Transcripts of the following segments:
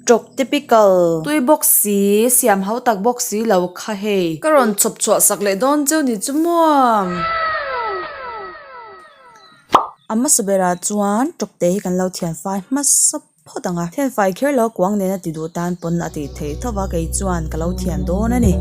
Tok typical. Tui bawk si, siam hau tak bawk si lo kha hei. Ka rawn chhawp chhuah sak leh dawn cheu ni chu muam. A hmasa berah chuan Tokte hi kan lo thianfai hmasa phawt ang a, thianfai kher lo kuang nena ti duh tan pawn a ti theih thauh va, kei chuan ka lo thian dawn a ni.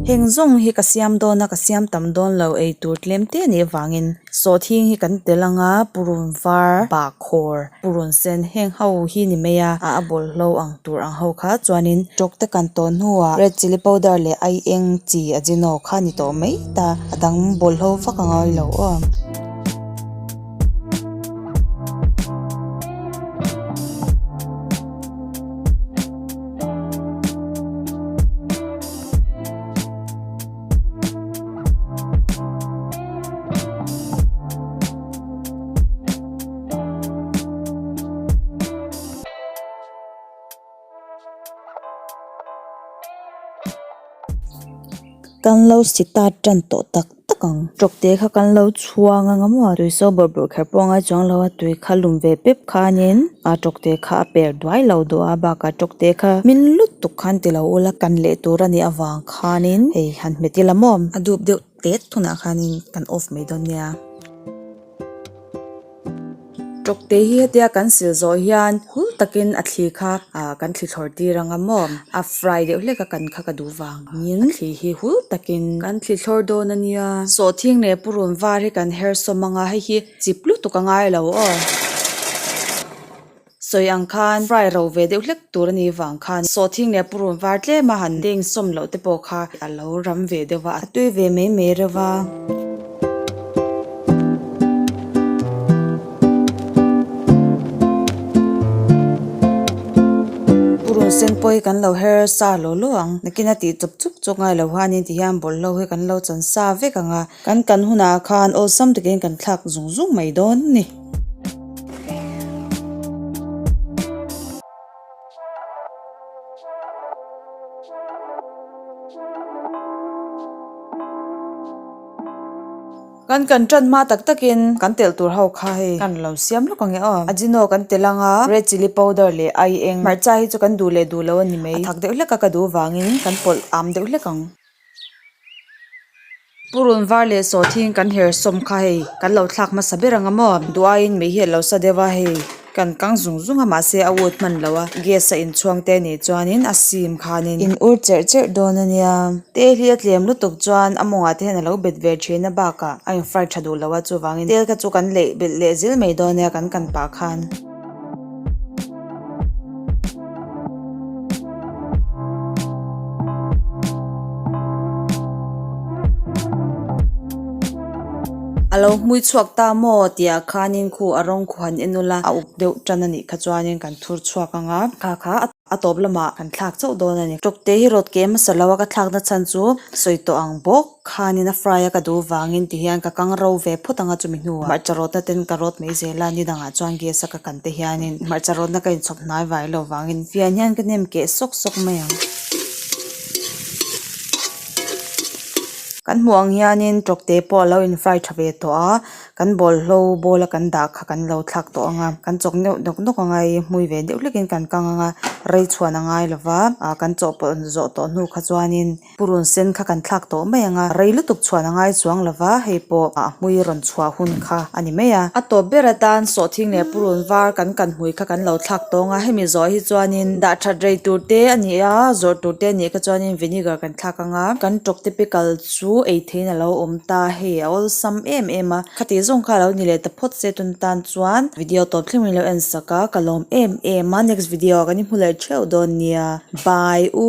Heng zawng hi ka siam dawn a, ka siam tam dawn lo eitur tlem te nih avangin. Sawhthing hi kan tel anga purun var bak khawr purun sen heng ho hi ni mai a, a a bawlhlo ang tur ang ho kha chuanin tawk te kan tawn hnuah red chilli powder leh ai eng chi ajino kha ni tawh mai ta, a dang bawlhlo vak ang a lo aw. Kan lo si ta tan tawh tak tak ang, tawkte kha kan lo chhuang anga maw, tui saw bawrh bawrh kher pawh a ngai chuang lo a, tui kha lum ve pep khanin a tawkte kha a per duai lo dawh a, bakah tawkte kha hming lutuk khan ti lo ula kan leh tur a nih avang kha. Khanin hei han hmet ila mawm. A dup deuh têt hunah khanin kan off mai dawn nia. Tawkte hi hetia kan sil zawh hian hul takin a thli kha ah kan thli thlawr tir ang a mawm. A fry deuh hlek a kan kha ka duh vangin a thli hi hul takin kan thli thlawr dawn a nia. Sawhthing leh purun var hi kan her sawm anga hei hi chip lutuk a ngai lo aw. Sawi ang khan fry ro ve deuh hlek tur a nih vang khan saw thing leh purun var tlema han deng sawm loh te pawh kha a lo ram ve deuh a, a tui ve mai mai reuh a. Purun sen pawh hi kan lo her sa lo lo ang, nakin a tih chup chup chuak ngai lo han in ti hian bawlhhlawh hi kan lo chansa vek ang a. Kan kan hunah khan awlsam takin kan thlak zung zung mai dawn ni. Kan kan tan hma tak takin kan telh tur ho kha hei kan lo siam lawk ang e aw. Ajino kan telh ang a, red chilli powder leh ai eng hmarcha hi chu kan duh leh duh lo a ni mai. A thak deuh hlek a ka duh vangin kan pawlh am deuh hlek ang. Purun var leh sawthiin kan her sawm kha hei kan lo thlak hmasa ber ang a maw duaiin mei hi a lo sa deuh a hei kan kang zung zung a mahse a ut hman loh a gas a inchhuang te nih chuanin a sim khanin in ur cherh cherh dawn a nia tel hi a tlem lutuk chuan a mawngah te hian a lo bet ve thin a bakah a in fry tha duh loh a chuvangin tel kha chu kan leih belh leh zil mai dawn a nia kan kan pah khan. A lo hmui chhuak ta maw tihah khanin khu a rawng khu han en nula a uk deuh tan a nih kha chuanin kan thur chhuak ang a. a tawp lamah kan thlak chauh dawn a ni. Tawkte hi rawt ke hmasa lo a, ka thlakna chhan chu sawi tawh ang bawk khanin a fry a ka duh vangin ti hian ka kang ro ve phawt ang a chumi hnuah hmarcha rawtna ten ka rawt mai zel a, ni dangah chuan gas a ka kan te hianin hmarcha rawtna ka inchhawp hnai vai lo vangin fian hian ka nem keh sawk sawk mai ang. Kan hmuh ang hianin tawkte pawh a lo in fry tha ve tawh a. kan bawlhlo ball a kan dah kha kan lo thlak tawh ang a kan chawk neuh nawk nawk ang a ih hmui ve deuh hlek in kan kang ang a rei chhuan a ngai lova ah kan chaw pawlh zawh tawh hnu kha chuanin purun sen kha kan thlak tawh mai ang a rei lutuk chhuan a ngai chuang lova hei pawh a hmui rawn chhuah hun kha a ni mai a a tawp ber atan sawhthing leh purun var kan kan hmui kha kan lo thlak tawh ang a hemi zawh hi chuanin dah that rei tur te a ni a zawrh tur te a nih kha chuanin vinegar kan thlak ang a kan ṭawk typical chu-- chu ei thein a lo awm ta hei a awlsam em em a khati zawng kha a lo ni leh ta phawt se tun tan chuan video tawp thleng in lo en sak a ka lawm em em a next video ah kan i hmu leh theuh dawn nia bye u.